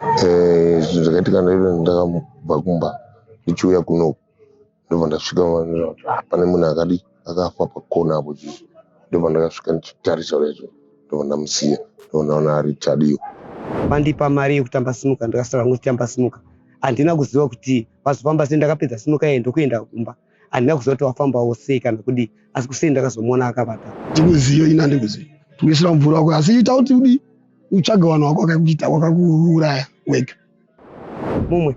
Eh, zvinhu zvakaitika ndaida ndakabva kumba ndichiuya kuno ndobva ndasvika ndikaona kuti, ah, pane munhu akadi akafa pakona apo chii ndobva ndakasvika ndichitarisa recho ndobva ndamusiya ndobva ndaona ari chadiyo vandipa mari yekutamba sinuka ndikasara ngoti tamba sinuka handina kuziva kuti vazofamba sei ndakapedza sinuka yeye ndokuenda kumba handina kuziva kuti wafambawo sei kana kudii asi kusei ndakazomuona akavata ndikuziyo ini handikuziyo tikuisira mvura wako asi ita kuti udii utsvaga vanhu wako wakakuita wakakuuraya wega mumwe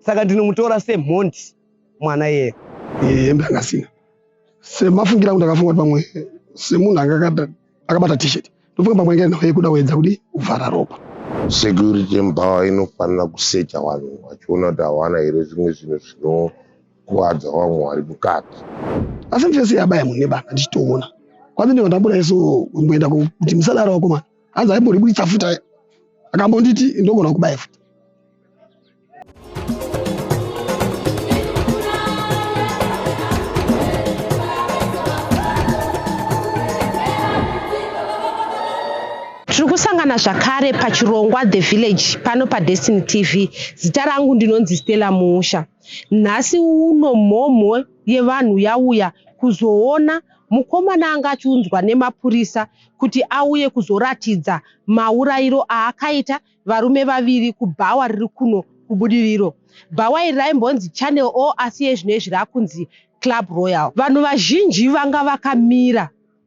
saka ndinomutora semhondi mwana yeye hembe anga asina semafungira kuti akafunga kuti pamwe semunhu anga akabata t-shirt ndofunga pamwe inga nhau yekuda kuedza kuti kuvhara ropa security mbawa inofanira kusecha vanhu vachiona kuti hawana here zvimwe zvinhu zvino kukuvadza vamwe vari mukati asi mfesi yabaya mune bana ndichitoona kwandine vandambura isu kumboenda kuti musadaro wakomana hanzi aimboribuditsa futa akambonditi ndogona kubaya futa tiri kusangana zvakare pachirongwa the village pano padestiny tv zita rangu ndinonzi stella musha Nhasi uno mhomho yevanhu yauya kuzoona mukomana anga achiunzwa nemapurisa kuti auye kuzoratidza maurayiro aakaita varume vaviri kubhawa riri kuno kuBudiriro. Bhawa iri raimbonzi Channel O asi iye zvino izvi rakunzi Club Royal. Vanhu vazhinji vanga vakamira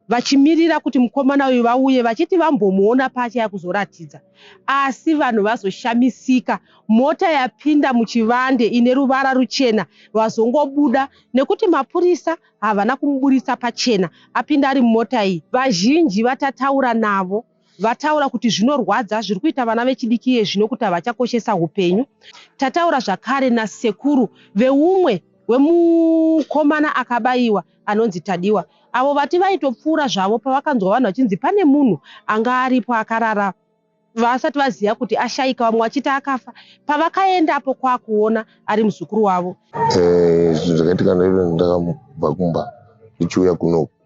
vachimirira kuti mukomana uyu vauye vachiti vambomuona paachaya kuzoratidza asi vanhu vazoshamisika mota yapinda muchivande ine ruvara ruchena vazongobuda nekuti mapurisa havana kumuburitsa pachena apinda ari mumota iyi vazhinji vatataura navo Vataura kuti zvinorwadza zviri kuita vana vechidiki iye zvino kuti havachakoshesa upenyu. Tataura zvakare nasekuru veumwe wemukomana akabaiwa anonzi Tadiwa avo vati vaitopfuura zvavo pavakanzwa vanhu vachinzi pane munhu anga aripo akarara vasati vaziva kuti ashaika vamwe vachiti akafa pavakaendapo kwakuona ari muzukuru wavo. Eh, zvinhu zvakaitika ndaive ndakamubva kumba ndichiuya kunoku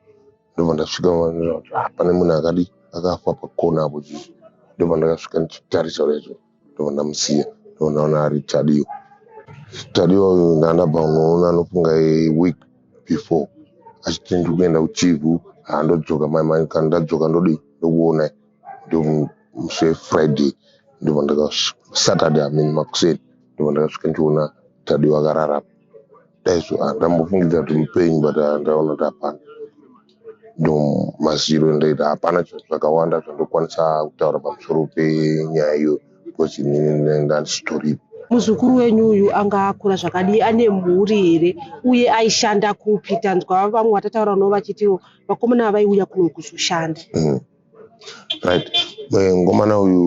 ndobva ndasvika maona kuti ah, pane munhu akadi akafa pakona apo chii ndobva ndakasvika ndichitarisa recho ndobva ndamusiya ndobva ndaona ari tadiwa tadiwa uyu ndandabva unoona anofunga week before achiti ndiri kuenda kuchivhu handodzoka mai mai kana ndadzoka ndodii ndokuonai ndomuse friday ndobva ndakasaturday amini makuseni ndobva ndakasvika ndichiona tadiwa akararama dai so ah, ndambofungidza kuti mupenyu but ah, ndaona kuti hapana ndo maziro endaita hapana chinhu zvakawanda zvandokwanisa kutaura pamusoro penyaya iyo because ini ndanga ndisitoripo muzukuru wenyu uyu anga akura zvakadii ane mhuri here uye aishanda kupi tanzwa vamwe vatataura no vachitiwo vakomana vaiuya kuno kuzoshanda Mm. right mngomana uyu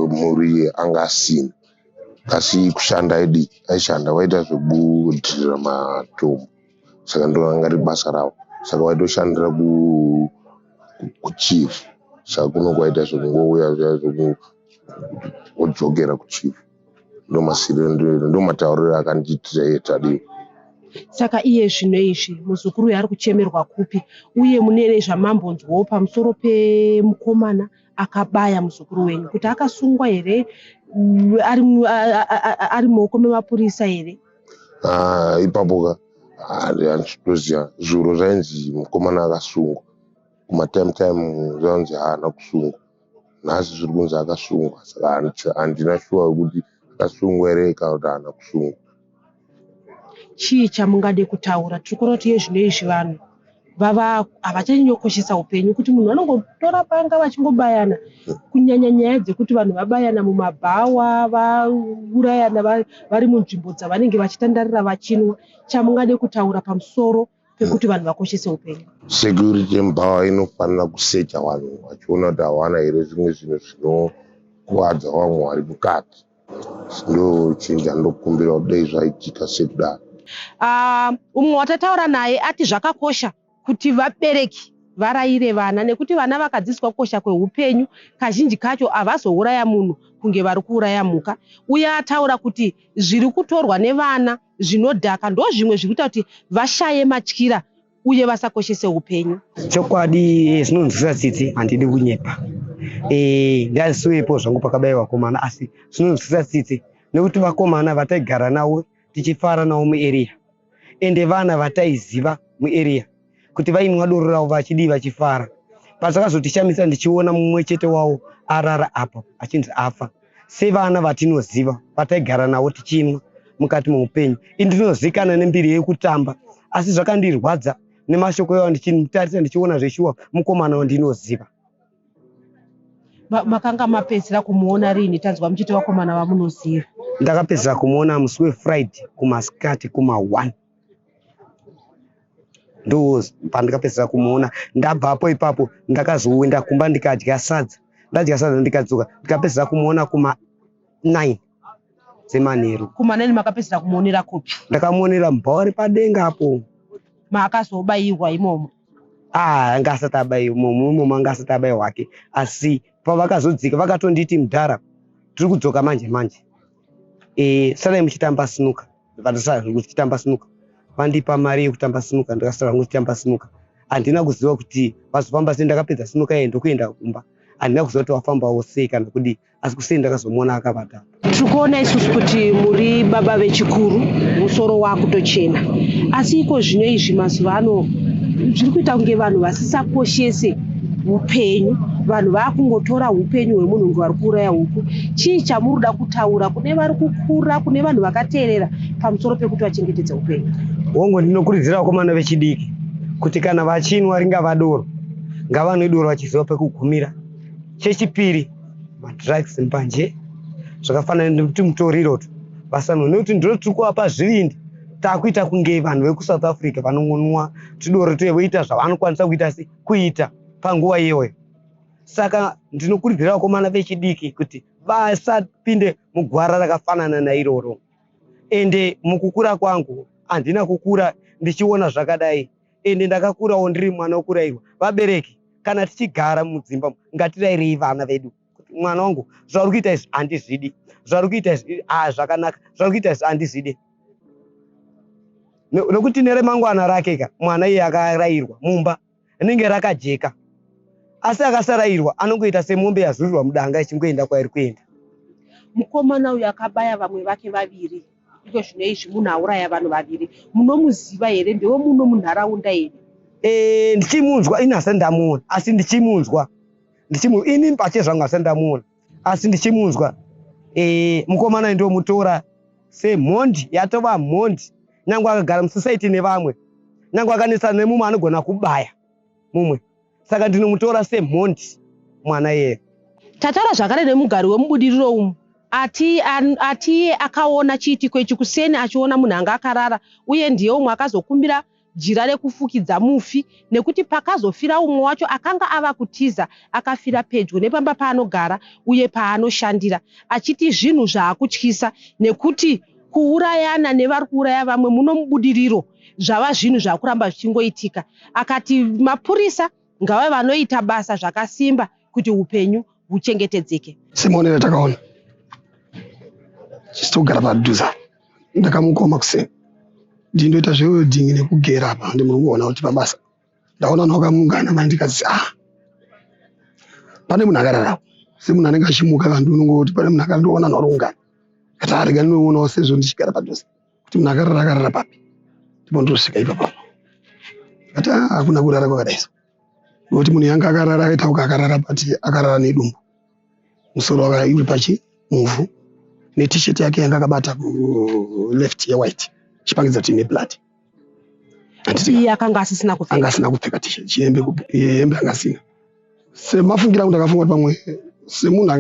mhuri anga asina Asi kushanda aidi aishanda waita zvekudhirira matombo saka ndinoona kunge riri basa ravo saka waitoshandira kuchief saka kuno kwaita zvekungouya zviya zvekudzokera kuchief ndomatauriro akandiitira iye Tadiwa. Saka iye zvino izvi muzukuru uyu ari kuchemerwa kupi uye mune zvamambonzwawo pamusoro pemukomana akabaya muzukuru wenyu kuti akasungwa here mm, ari mu- a- a- a- a- ari mumaoko memapurisa here Ah, ipapo ka handitoziva zviuro zvainzi mukomana akasungwa kumatime time zvainzi haana kusungwa nhasi zviri kunzi akasungwa saka handiti- handina shuwa yekuti akasungwa here kana kuti haana kusungwa Chii chamungade kutaura? Tiri kuona kuti iye zvino izvi vanhu vava havachanyanyokoshesa upenyu kuti munhu vanongotora panga vachingobayana kunyanya nyaya dzekuti vanhu vabayana mumabhawa vaurayana vari munzvimbo dzavanenge vachitandarira vachinwa chamungade kutaura pamusoro pekuti vanhu vakoshese upenyu security embawa inofanira kusecha vanhu vachiona kuti hawana here zvimwe zvinhu zvinokuvadza vamwe vari mukati ndochinja ndokumbira kuti dei zvaitika sekudaro ah, umwe watataura naye ati zvakakosha kuti vabereki varayire vana nekuti vana vakadzidziswa kukosha kweupenyu kazhinji kacho havazouraya munhu kunge vari kuuraya mhuka uye ataura kuti zviri kutorwa nevana zvinodhaka ndozvimwe zviri kuita kuti vashaye matyira uye vasakoshese upenyu chokwadi eh, zvinonzwisa tsitsi handidi kunyepa eh, ndazisuyepo zvangu pakadai vakomana asi zvinonzwisa tsitsi nekuti vakomana vataigara navo tichifara navo muarea ende vana vataiziva muarea kuti vainwa doro ravo vachidii vachifara but zvakazotishamisa ndichiona mumwe chete wavo arara apa achinzi afa sevana vatinoziva vataigara navo tichinwa mukati meupenyu ini ndinozikana nembiri yekutamba asi zvakandirwadza nemashoko yavo ndichimutarisa ndichiona zveshuwa mukomana wandinoziva makanga mapedzisira kumuona rini tanzwa muchiti vakomana vamunoziva ndakapedzisira kumuona musi wefriday kumasikati kuma one ndo pandikapedzera kumuona ndabvapo ipapo ndakazoenda kumba ndikadya sadza ndadya sadza ndikadzoka ndikapedzera kumuona kuma 9 dzemanheru kuma 9 makapedzera kumuonera kupi ndakamuonera mubhauri padenga apo maakazobairwa imomo ah anga asati abayiwa imomo imomo anga asati abayiwa hwake asi pavakazodzika vakatonditi mudhara tiri kudzoka manje manje e, eh, sadai muchitamba sinuka Vakasara zvangu ndichitamba sinuka, vandipa mari yekutamba sinuka ndakasara zvangu ndichitamba sinuka. Handina kuziva kuti vazofamba sei, ndakapedza sinuka iye ndokuenda kumba. Handina kuziva kuti wafambawo sei kana kudii, asi kuseni ndakazomuona akavata. Tiri kuona isusu kuti muri baba vechikuru, musoro wakutochena, asi iko zvino izvi mazuva ano zviri kuita kunge vanhu vasisakoshese upenyu vanhu vakungotora upenyu hwemunhu kunge vari kuuraya huku chii chamuri kuda kutaura kune vari ku kukura kune vanhu vakateerera pamusoro pekuti vachengetedze upenyu. Hongu, ndinokurudzira vakomana vechidiki kuti kana vachinwa ringava doro, ngavanwe doro vachiziva pekugumira. Chechipiri, madrugs mbanje zvakafanana nekuti mutoriro tu vasanwa nekuti ndiro tiri kuvapa zvivindi takuita kunge vanhu vekusouth africa vanongonwa tudoro tuye voita zvavanokwanisa kuita se kuita panguva iyoyo saka ndinokurudzira vakomana vechidiki kuti vasapinde mugwara rakafanana nairoro ende mukukura kwangu handina kukura ndichiona zvakadai ende ndakakurawo ndiri mwana wokurairwa vabereki kana tichigara mudzimba ngatirairei vana vedu kuti mwana wangu zvauri kuita izvi handizvidi zvauri kuita izvi ah, zvakanaka zvauri kuita izvi handizvidi nokuti neremangwana rake ka mwana iye akarairwa mumba rinenge rakajeka asi akasarairwa anongoita semombe yazurirwa mudanga ichingoenda kwairi kuenda mukomana uyu akabaya vamwe vake vaviri iko zvino izvi munhu auraya vanhu vaviri munomuziva here ndewe muno munharaunda here e, ndichimunzwa ini hasa ndamuona asi ndichimunzwa ndichimu ini pache zvangu hasa ndamuona asi ndichimunzwa e, mukomana ndomutora semhondi yatova mhondi nyange akagara musisaiti nevamwe nyange akanetsana nemumwe anogona kubaya mumwe saka ndinomutora semhondi mwana iyeye tataura zvakare nemugari wemubudiriro umu ati atiye akaona chiitiko ichi kuseni achiona munhu anga akarara uye ndiye umwe akazokumbira jira rekufukidza mufi nekuti pakazofira umwe wacho akanga ava kutiza akafira pedyo nepamba paanogara uye paanoshandira achiti zvinhu zvaakutyisa nekuti kuurayana nevari kuuraya vamwe muno mubudiriro zvava zvinhu zvakuramba zvichingoitika akati mapurisa ngavave vanoita basa zvakasimba kuti upenyu huchengetedzeke semuonero takaona chisitogara padhuza ndakamukoma kuseni ndindoita zvewelding nekugera apa ndi muri kuona kuti pabasa ndaona nhu wakamungana mai ndikazisa ah, pane munhu akararao semunhu anenge achimuka kanti unongoti pane munhu akandiona nhu ari kungana kati arega ndinoonawo sezvo ndichigara padhuze kuti munhu akarara akarara papi ndipondosvika ipapa ati ah, hakuna kurara kwakadaisa nokuti munhu yanga akarara akaitauka akarara pati akarara nedumbu musoro wakauri pachi muvhu netisheti yake yanga akabata left yewhite chipangidza kuti neblood iye akanga asisina kupfekaanga asina kupfeka tisheti hembe anga asina semafungira angu ndakafunga kuti pamwe semunhu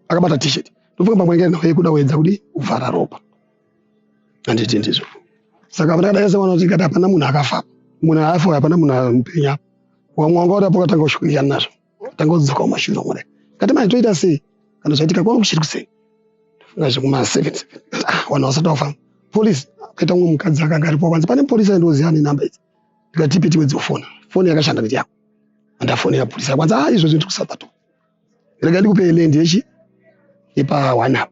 akabata tisheti ndofunga pamwe ngekuda kuedza kuti kuvhara ropa handiti ndizvo saka vana daese vanoti kati hapana munhu akafa munhu haafa uyo hapana munhu mupenyu apa wamwe wanga uri apo katanga kushukirikana nazvo tanga kudzoka kumashure omwe dai kati manje toita sei kana zvaitika kwanga kuchiri kuseni ndofunga zvekuma seven seven ah vanhu vasati vafa polisi akaita umwe mukadzi akanga aripo kwanzi pane polisi aindoziva ane namba idzi ndikati ipi tiwe dzofona foni yakashanda kuti yako andafonera polisi akwanzi ah izvozvi ndiri kusabatoa rega ndikupe land yechi yepa one up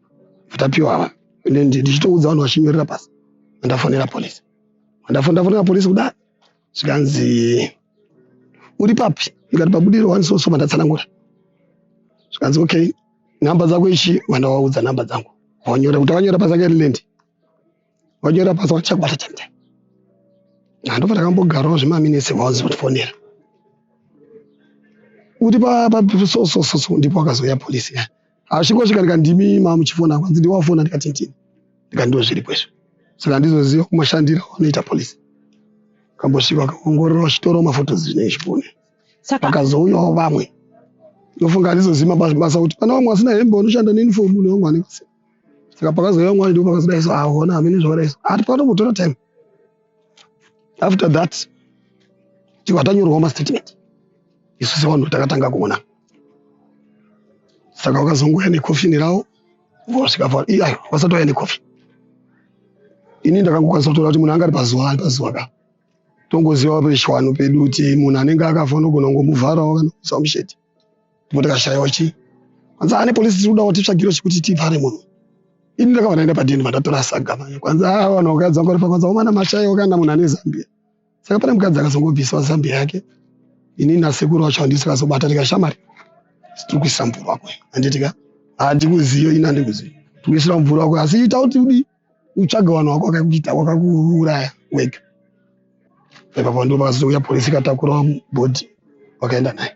vatapiwa ava ende ndichitoudza vanhu vachinyorera pasi vandafonera police vandafonera police kudai zvikanzi uri papi ndikati pabudiro wani so so vandatsanangura zvikanzi okay nhamba dzako ichi vandawaudza nhamba dzangu vanyora kuti vanyora pasi akairi land Vanyora basa vachakwata chete. Handova ndakambogarawo zvimaminitsi vaonzi vatifonera. Kuti pa so so so so ndipo akazouya polisi ya. Asviko svika ndikati ndimi mama muchifona kwanzi ndiwafona ndikati ndini. Ndikati ndiwo zviri kwezvo. Saka ndizoziva kumashandira anoita polisi. Kambosvika kaongorora vachitoro mafotos zvine zvipone. Saka vakazouyawo vamwe. Ndofunga ndizoziva mabasa kuti pana vamwe vasina hembe vanoshanda neuniform nevamwe vanenge vasina. saka pakazouya mwana ndipo pakazodai so ahona hamene zvakadai so ati panomutora time after that tibva tanyorwa mastatement isu sevanhu takatanga kuona saka vakazongouya nekofini ravo vosvika pa iye ayo vasati vauya nekofi ini ndakangokwanisa kutoona kuti munhu anga ari pazuva ari pazuva ka tongoziva pechishwano pedu kuti munhu anenge akafa unogona kungomuvharawo kana kuisa musheti Ndipo ndikashaiwa chii. Hanzi ane police tiri kuda kuti tsvagiro chekuti tivhare munhu. Ini ndakabva ndaenda padini vandatora saga manje. Kwanzi ah vanhu vakadza ngori pakwanza omana mashaiwa kana munhu ane Zambia. Saka pane mukadzi akazongobviswa Zambia yake. Ini nasekuru wacho handisi kazobata ndikashamari. Tiri kuisa mvura kwenu. Handiti ka? Handikuziyo ini handikuziyo. Tiri kuisira mvura kwenu asi ita kuti udii? utsvage vanhu vako vakakuita vakakuuraya wega ipapo ndo vakazouya polisi ikatakura bhodhi vakaenda naye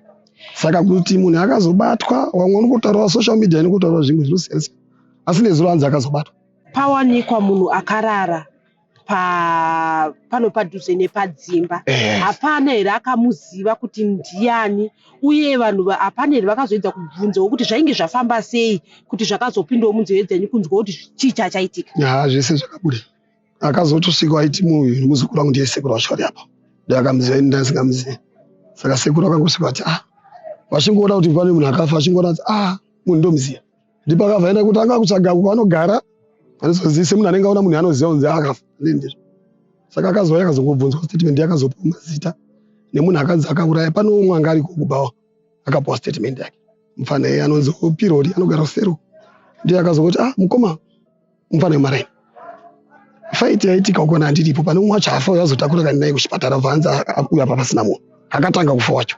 saka kuti munhu akazobatwa vamwe unokotaurawa social media inokotaurawa zvimwe zvinosiyana asi nezuro anzi akazobatwa pawanikwa munhu akarara pa pano padhuze nepadzimba hapana here akamuziva kuti ndiani uye vanhu vapanel vakazoedza kubvunzawo kuti zvainge zvafamba sei kuti zvakazopindawo munzeve dzenyu kunzwa kuti chii chachaitika yaa zvese zvakabuda akazotosvika aiti munhu muzukuru wangu ndiye sekuru wacho ari apa ndakamuziva ini ndasingamuzivi saka sekuru akangosvika ati ah vachingoona kuti pane munhu akafa achingoona kuti ah munhu ndomuziva ndipo akavhaenda kuti anga kutsvaga uko anogara anozozivise munhu anenge aona munhu anoziva kunzi akafa ndizvo saka akazouya akazongobvunzwa statement yakazopiwa mazita nemunhu akanzi akauraya pane umwe anga ariko kubawa akapiwa statement yake mufana iye anonzi opirori anogara kusero ndiye akazongoti ah mukoma mufana wemaraini faiti yaitika ukona handiripo pane umwe wacho hafa uyo azotakura kani naye kuchipatara ubva anzi uyo apa pasina munhu akatanga kufa wacho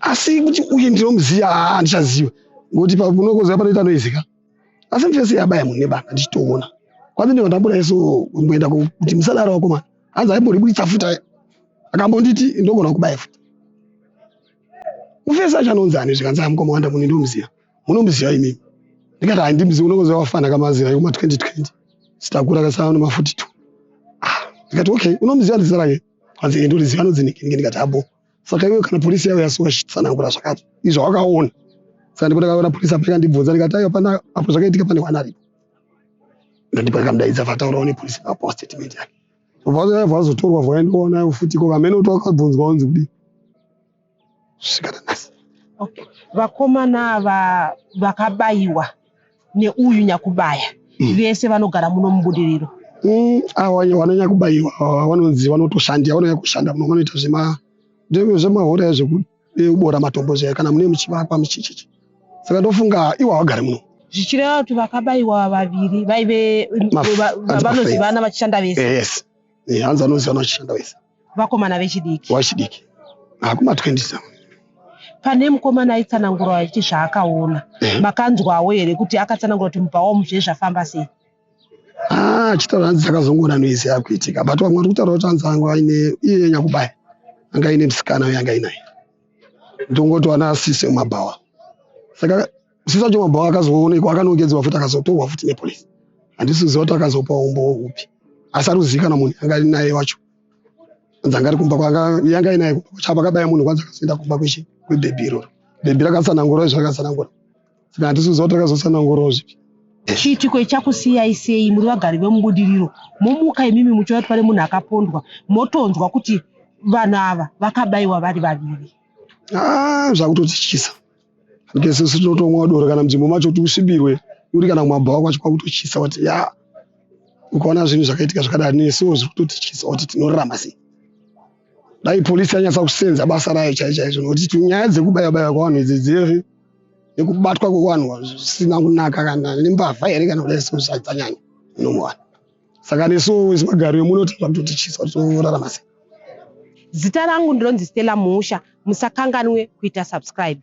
asi kuti uye ndinomuziva haa handichaziva ngokuti pakunokoziva panoita noizika asi mfesi yabaya munhu nebanga ndichitoona kwanzi ndiva ndambura yeso kumboenda kuti musadaro wakomana hanzi aimboriburitsa futa akambonditi ndogona kubaya futa mufesi acho anonzi ani zvikanzi amukoma wanda munhu ndomuziva munomuziva imi ndikati handimuzivi unokuziva wafana kamazira yekuma 2020 sitakura kasava noma 42 ah, ndikati okay unomuziva ndizita rake hanzi ende uriziva anonzi nikinike ndikati habo saka iwe kana polisi yavo yasuwa chitsanangura zvakati izvo wakaona saka ndipo ndakaona polisi apo ikandibvunza ndikati aiwa pana apo zvakaitika pane wana aripo ndandipa ndikamudaidza vataurawo nepolisi vapawo statement yake vazotorwa vakaendiwa nayo futi ko kamene kuti wakabvunzwa unzi kudii okay. vakomana ava vakabayiwa neuyu nyakubaya mm. vese vanogara muno mubudiriro mm, awa vanonyakubayiwa vanonzi vanotoshandira vanonyakushanda muno vanoita zvema zvemahora zvekubora eh, matombo zvayo kana mune muchivakwa muchichichi saka ndofunga iwo havagari muno zvichireva kuti vakabayiwa vaviri vaive vanozivana vachishanda vese eh, hanzi vanozivana vachishanda vese vakomana vechidiki wachidiki akuma 20 something pane mukomana aitsanangura achiti zvaakaona eh. makanzwawo here kuti akatsanangura kuti mubva wamu zve zvafamba sei ah, achitaura hanzi dzakazongoona noise yakuitika but vamwe vari kutaura kuti hanzi anga aine iye nyanya kubaya anga aine musikana uye anga ainaye ndongotoana asise mumabhawa saka Sisa Joma Bhawa akazoonekwa akanogedzwa futi akazotorwa futi nepolice. Handisi kuziva kuti akazopa umbowo upi. Asi ari kuzivikanwa munhu anga ari naye wacho. Anzi anga ari kumba kwanga yanga inaye kumba kwacho apa akabaya munhu kwanzi akazoenda kumba kwechi kwebhebhi iroro. Bhebhi rakasanangura izvo rakasanangura. Saka handisi kuziva kuti rakazosanangura zvipi. Chiitiko ichakusiyai sei muri vagari vemubudiriro momuka imimi muchiona kuti pane munhu akapondwa motonzwa kuti vanhu ava vakabaiwa vari vaviri. Ah, zvakutotityisa. Rike sisi tinotomwa doro kana mudzimbo macho kuti usvibirwe uri kana kumabhawa kwacho kwakutochisa kuti ya ukaona zvinhu zvakaitika zvakadai nesiwo zviri kutotichisa kuti tinorarama sei dai polisi yanyatsa kusenza basa rayo chai chaizvo nokuti nyaya dzekubaya baya kwavanhu idzi dziri nekubatwa kwevanhu zvisina kunaka kana nembavha here kana kudai sezvadzanyanya nomuvanhu saka nesu isu magaro emuno tinoda kutotityiswa titorarama sei zita rangu ndinonzi stella musha musakanganwe kuita subscribe